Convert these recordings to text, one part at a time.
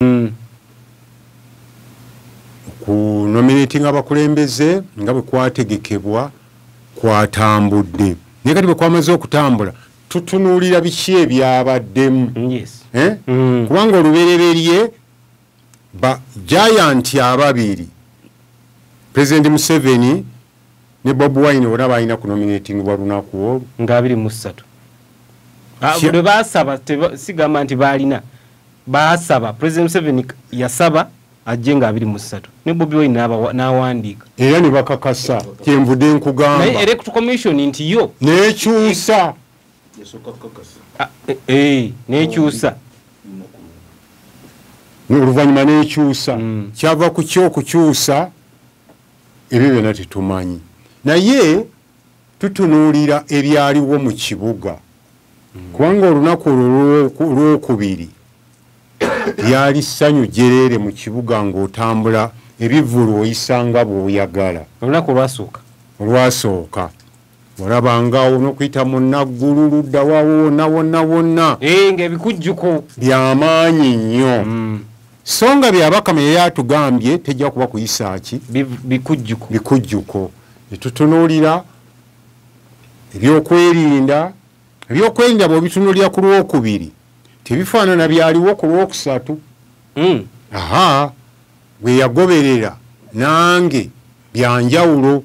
hmm. ku nominating abakulembeze nga bwe kwategekebwa kwatambudde naye kati bwe kwamaze okutambula tutunuulira biki ebyabaddemu eh? mm. kubanga olubereberye ba jayanti ababiri pulezidenti museveni ne bob wine bona balina ku nominating bwa lunaku olwo nga abiri mu ssatu ah, lwe baasaba sigamba nti baalina baasaba president museveni yasaba ajje nga abiri mu ssatu ne bobi wine n'awandiika era ne bakakasa kyenvude nkugamba naye elect commission nti yo nekyusa ah, eh, eh, nekyusa oluvannyuma nekyusa hmm. kyava ku kyokukyusa ebyo byona tetumanyi naye tutunuulira ebyaliwo mu kibuga hmm. kubanga olunaku olwo lwokubiri lyali ssanyu jereere mu kibuga ng'otambula ebivulu oyisanga bw'oyagala olunaku olwasooka olwasooka olaba ngaawo nokuyita munaggulu ludda waawo wonna wonna wonna eh, ngaebikujjuko byamaanyi nnyo mm. so nga byabakama yali atugambye tejja kuba kuyisaaki bikujjuko bikujjuko netutunuulira ebyokwerinda ebyokwerinda bwebitunulira ku lwokubiri tebifaanana byaliwo ku lwokusatu hmm. aha bweyagoberera nange byanjawulo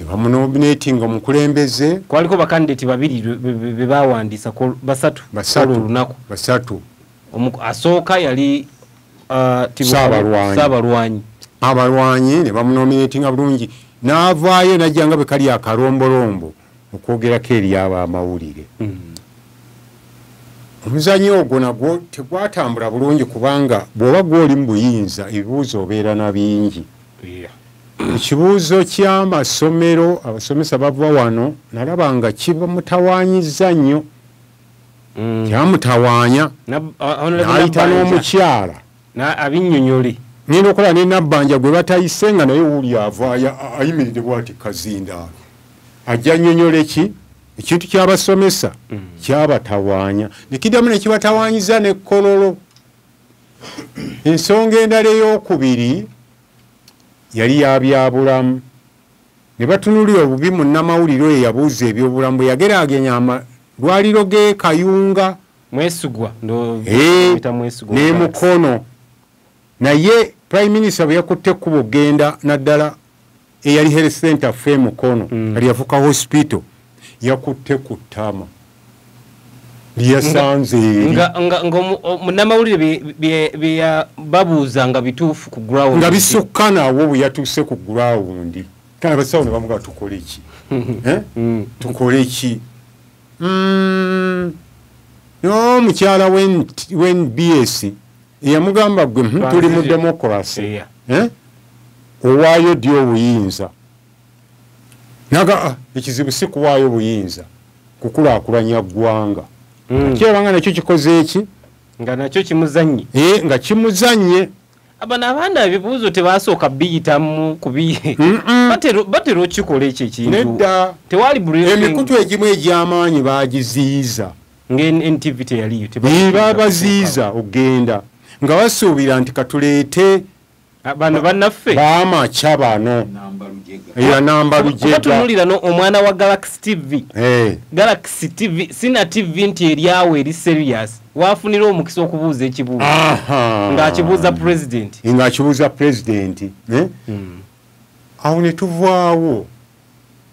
nebamunominatinga omukulembeze kwaliko bakandidati babiri bebawandiisa basatu olunaku basatu asooka yali uh, saabalwanyi abalwanyi nebamunominatinga bulungi navaayo najja nga bwekali akalombolombo okwogerako eri abo amawulire mm. omuzanyo ogwo nagwo tegwatambula bulungi kubanga bwoba gwoli mu buyinza ebibuuzo obeera na bingi ekibuuzo kyamasomero abasomesa bava wano nalaba nga kibamutawanyiza nnyo mm. kyamutawanya nayita n'omukyala na abinyonyole ngenda okola ne nabbanja gwe batayise nga naye wuli ava ayimiridde bwati kazinda ajja nyonyole ki ekintu kyabasomesa mm. kyabatawanya nekiddamu nekibatawanyiza ne kololo ensonga endala eyokubiri yali yabyabulamu ne batunulira obubi munnamawulire oyo yabuuza ebyobulamu bwe yageragenya amalwaliro g'ekayunga mwesigwa eh, ne mukono naye prime minister bwe yakutte ekkuba okugenda naddala eyali health center fe mukono mm. ali yafuka hospital yakutte ku ttama lyeyasanze munamawulire byebabuuza nga bituufu ku ground nga bisukka nawo bwe yatuuse ku ground kale abasawo ne bamuga tukole ki eh? mm. tukole ki Mm. no mukyala wen bs yamugamba gwe hmm, tuli mu demokrasi eh? owaayo ddi obuyinza naga ah, ekizibu si kuwaayo obuyinza kukulakulanya ggwanga hmm. kyebanga nakyo kikoze eki nga nakyo kimuzannye eh, nga kimuzannye abana abaana ebibuuzo tebasooka biyitamu kubibatera okukikola ekyo ekintudda tewali emikutu egimu egy'amaanyi bagiziyiza ngantv teyaliyo babaziyiza okugenda nga basuubira nti katuleete Ah, bano banaffe bamakya bano era namba lujegatunulira no omwana wa galaxy tv hey. Eh. galaxy tv sina tv nti eryawo eri serious wafunira omukisa okubuuza ekibuuzo ng'akibuuza pulezidenti ng'akibuuza pulezidenti eh? hmm. awo ne tuvaawo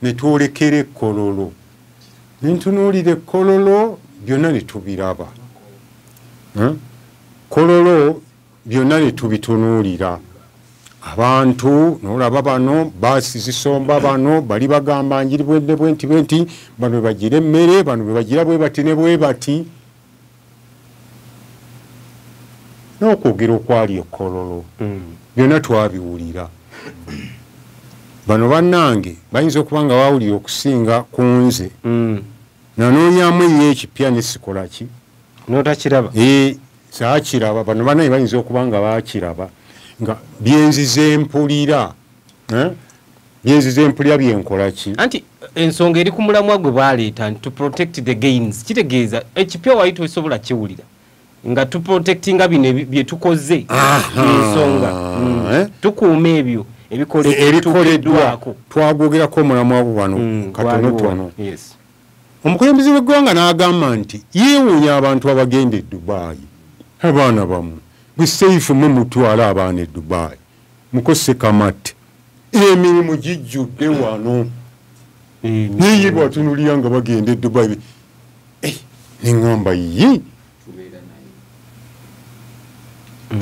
ne twolekera ekkololo ne ntunuulira ekkololo byonna ne tubiraba eh? kololo byonna ne tubitunuulira abantu nolaba bano baasi zisomba bano bali bagamba njiri bwende bwenti bwenti bano bebagira emmere bano bebagira bwebati ne bwebati n'okwogera okwali ekololo mm. byonna twabiwulira bano bannange bayinza okuba nga bawulira okusinga ku nze mm. nanoonyamu enyo ekipya nesikolaki notakiraba eh, saakiraba bano banaye bayinza okuba nga baakiraba nga byenzize mpulira eh? byenzize mpulira byenkola ki anti ensonga eri ku mulamwa gwe baleeta nti to protect the gains kitegeeza ekipya wali tosobola kiwulira nga to protectinga bino bye tukoze ensonga hmm. eh? tukuuma ebyo ebikoleddwako e, twagwogerako omulamwa gwe wano hmm, katonotono omukulembeze w'eggwanga n'agamba nti yeewuunya abantu abagenda e dubaayi abaana bamu gwe seifu mwe mutwala abaana e dubaayi mukose kamate emirimu gijjudde wano naye bwatunulira nga bagenda e dubaayi eh, neŋamba ye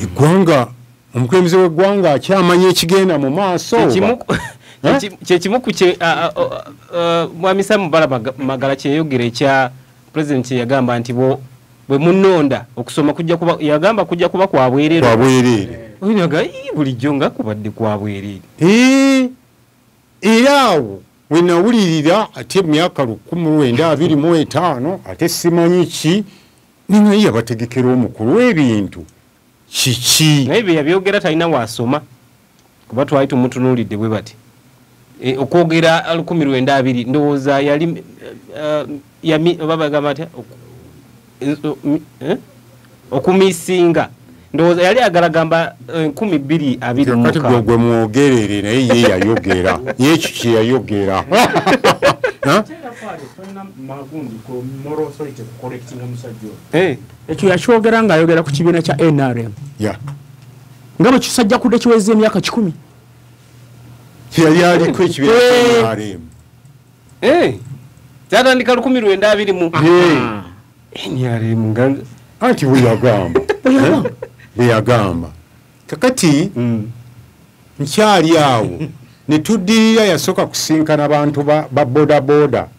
eggwanga omukulembeze w'eggwanga akyamanya ekigenda mu maaso kyekimu ku kye mwami samu bala magala kyeyogera ekya pulezidenti yagamba nti bwe munonda okusoma kujja kuba yagamba kujja kuba kwa bwereere kwa bwereere oyinaga bulijjo nga kubadde kwa bwereere ee era awo we nawulirira ate emyaka lukumi lwenda abiri mu etaano ate simanyi ki ninaye yabategekera omukulu w'ebintu kiki naye byeyabyogera talina wasoma kuba twali tumutunuulidde bwe bati e, okwogera alukumi lwenda abiri ndowooza yali eh, yami oba bagamba atya eh? okumisinga ndowooza yali agala gamba eh, nkumi bbiri abiri kati gwe gwe mwogerere naye ye yayogera ye ekyo kye yayogera ekyo yakyogera nga ayogera ku kibiina kya nrm nga bwe kisajja kudde kiweza emyaka kikumi yali aliko ekibiina kya eh. nrm eh. kyatandika lukumi lwenda abiri mu ah. nrm nga anti bweyagamba bweyagamba kakati mm. nkyali awo netuddirira yasooka kusinkana bantu ba bodaboda ba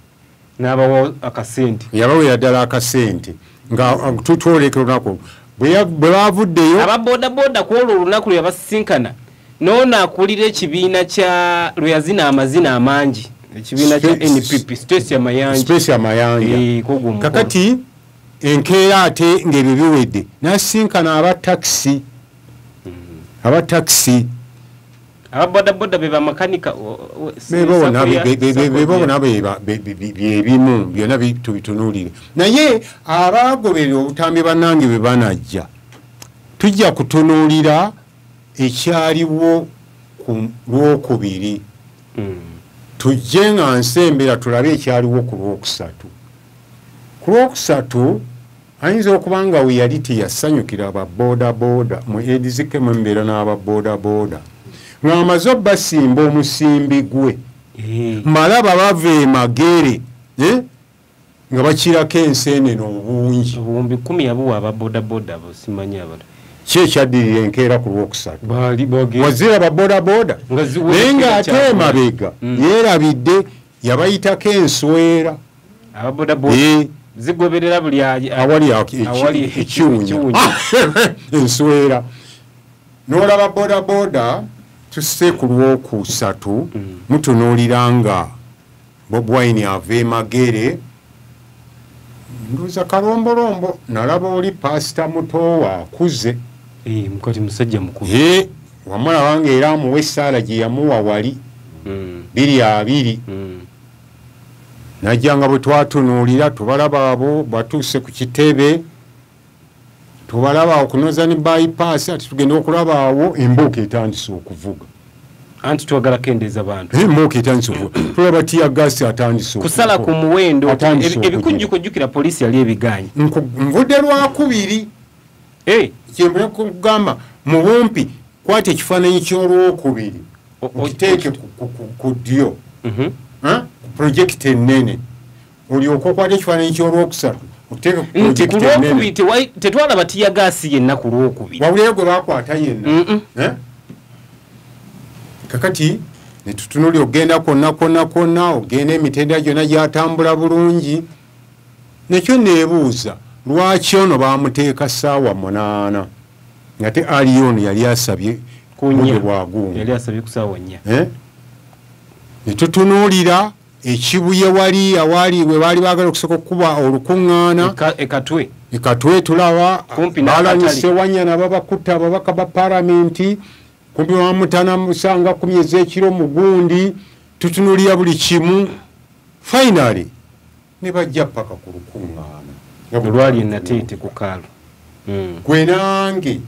nabawa akasente yabawera ddala akasente nga mm. tutwoleka olunaku bwe bavuddeyo aba bodaboda ku olwo olunaku lwe yabasisinkana noono akulira ekibiina kya lwe yazina amazina amangi ekibiina kya npp stacia mayanjastacia mayanja eh, kakati enkeera ate ng'ebyo biwedde nasisinkana aba takisi mm. aba takisi aba bodaboda be bamakanika bebabona byebimu byona tubitunulire naye abagoberera obutambi banange bwe banajja tujja kutunulira ekyaliwo ku lwokubiri hmm. tujje nga nsembera tulabe ekyaliwo ku lwokusatu ku lwokusatu ayinza okuba nga we yali teyasanyukira ba bodaboda mu edizike mu embeera n'aba bodaboda ng'amaze obasimba omusimbi gwe eh. malaba bava emagere eh? nga bakirako enseenene obungi obuwumbi kumi yabuwa aba bodaboda bosimanyi abala ki ekyaddirira enkeera ku lwokusatu wazira ba bodaboda naye ng'ate emabega mm. yeerabidde yabayitako enswera eh. zigoberera buli awali ekiwunya enswera n'olaba bodaboda tusse ku lwokusatu mm. mutunuulira nga bobwine ava emagere nduuza kalombolombo nalaba oli pasita mutoowa akuze eh, mukati musajja mukulu eh, wamala wange era amuwa essaala gye yamuwa wali mm. biri abiri mm. najja nga bwe twatunuulira tubalaba abo batuuse ku kitebe tubalaba okunoza ne bypass ati tugenda okulaba awo embuuka etandise okuvuga anti twagala kendeeza bantu embuuka etandise okuvuga tulaba tiya gasi atandise kusala ku muwendo ebikujjukujjukira poliisi yali ebigaanyi nvudde lwakubiri eh. kyemba kugamba mu bumpi kwata ekifaananyi ky'olwokubiri okiteeke ku ddyo mhm. ku projekiti ennene olyoka okwata ekifaananyi ky'olwokusatu tetwalaba tiyagaasi yenna ku lwokubiri wabulayo gwe bakwata yenna eh? kakati netutunuli okugenda kwonna kwonna kwonna ogenda emitendera gyonna gyatambula bulungi nekyo nebuuza lwaki ono bamuteeka saawa munaana ngate aliyo ono yali asabye kubude bwagungu eh? netutunuulira ekibuye wali awali we baali bagala okusooka okukuba olukuŋŋaana ekatwe ekatwe tulaba balanyise wanyana babakutta ababaka ba paramenti kumpi bamutana musanga kumyezi ekiro mugundi tutunulira buli kimu finally ne bajja paka ku lukuŋŋaana olwali enateete ku kaalo hmm. gwe nange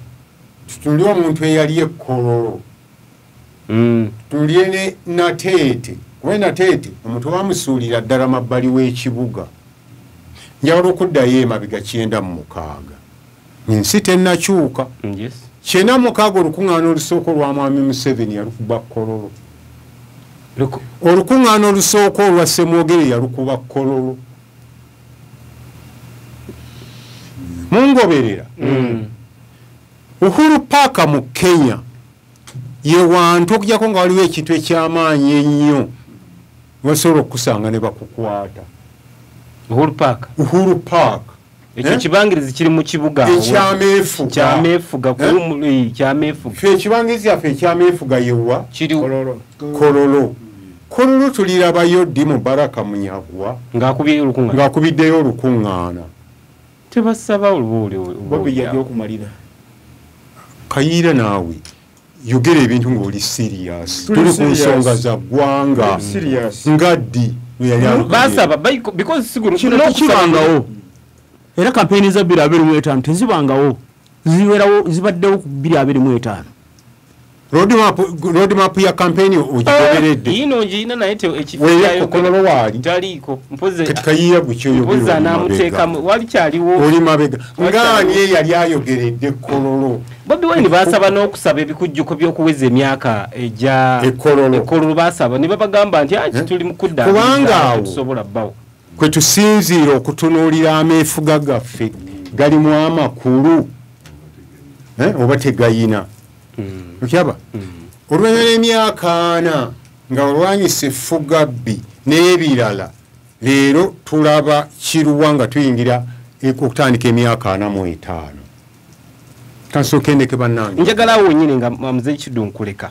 tutunulire omuntu eyali ekkololo hmm. tutunulire ne nateete kuba enateete omuntu bamusuulira ddala mabbali w'ekibuga njawula okuddayo emabega kyenda mu mukaaga ensi tenakyuka kyena mukaaga olukuŋŋaana olusooka olwa mwami museveni yalukuba kololo olukuŋŋaana olusooka olwa semwogere yalukuba kololo mungoberera mm. uhuru paaka mu kenya yewantu okujako nga waliwo ekintu ekyamaanyi ennyo wasobola okukusanga ne bakukwata uhuru paaka uhuru paaka ekyo eh? kibangirizi kiri mu kibuga ekyameefuga eh? ekibangirizi yaffe ekyameefuga yewa kololo kololo tulirabayo ddi mubaraka munyagwa ng'akubiddeyo olukuŋŋaana tebasaba oluba oliokumalira kayiira naawe yogera ebintu ngaoli serious tuli ku nsonga za ggwanga nga ddi weyalibasabakibangawo era kampeyini za bbiri abiri mu etaano tezibangawo zibeerawo zibaddewo ku bbiri abiri mu etaano rodmap ya kampeyini ogigobereddeweyekokololowaalitaliikokayiya gukyoyogeoli mabega ngaani eyali ayogeredde kololo bobi wine basaba n'okusaba ebikujjuko by'okuweza emyaka egya ekololo basaba ne babagamba nti aki ah, eh? tuli mu kudda kubanga awo tusobola bbawo kwe tusinziira okutunuulira ameefuga gaffe galimu amakulu eh, oba tegayina hmm. okyaba hmm. oluvanyuma lw'emyaka ana nga olwanyisa effugabbi n'ebirala leero tulaba kiruwa nga tuyingira okutandika emyaka ana mu etaano kansokendeke banange njagala awo wenyini nga mzee kidu nkuleka